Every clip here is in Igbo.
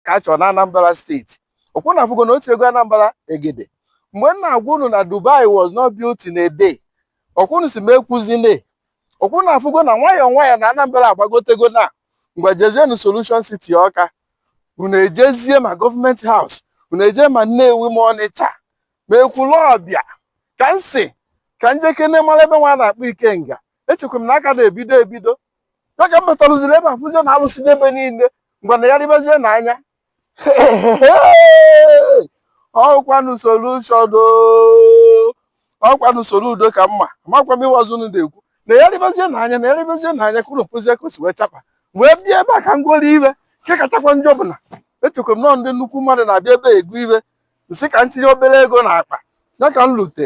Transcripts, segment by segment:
ka a chọrọ na Anambra steeti ọ kwa unu afụgo na otu ego Anambra egede mgbe m na-agwa unu na Dubai was not built in a day ọ kwa unu sị m ekwuzile ọ kwa unu afụgo na nwayọọ nwayọọ na Anambra agbagotego na mgbe jezienu Solution City Ọka unu ejezie ma government house unu eje ma Nnewi ma Ọnịcha ma Ekwulọbịa ka m sị ka m jekene mara ebe nwa a na-akpọ Ikenga echekwa m na a ka na-ebido ebido ya ka m batalụziri ebe a fụzie na a lụsịne ebe niile ngwa na ya ribezie na anya ọ kwanụ Solution ọ kwanụ Soludo ka mma amakwa m ịwazi unu na-ekwu na ya ribezie na anya na ya ribezie na anya kwuru mpozie ka o si wee chapa wee bịa ebe a ka m goro ihe nke kachakwa njọ bụ na echekwa m na ọ ndị nnukwu mmadụ na-abịa ebe a ego ihe m sị ka m tinye obere ego na akpa ya ka m lute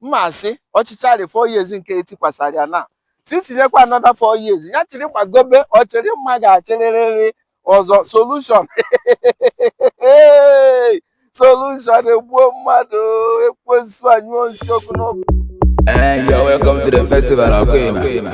ma a sị ọ chịcharị four years nke e tikwasara ya na sị tinyekwa another four years ya chịrị gbagobe ọ chịrị mma ga-achịrịrịrị ọzọ Solution Solution egbuo mmadụ ekwensu anyụọ nsị ọkụ n'ọkụ Hey, you're welcome to the festival, okay, man.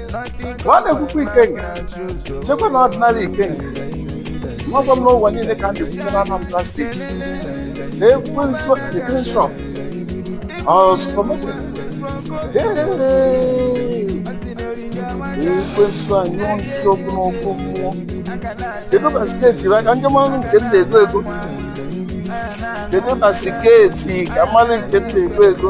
ma a na-ekwukwa Ikenga chekwa na ordinary Ikenga nwagwa m n'ụwa niile ka dị na Anambra steeti na ekwensu ekele shop supermarket ekwensu anyụọ nsị ọkụ n'ọkụ mmụọ kedu basketi bụ aka ndị mmanụ nke m na-ego ego kedu basketi ka m marụ nke m na-ego ego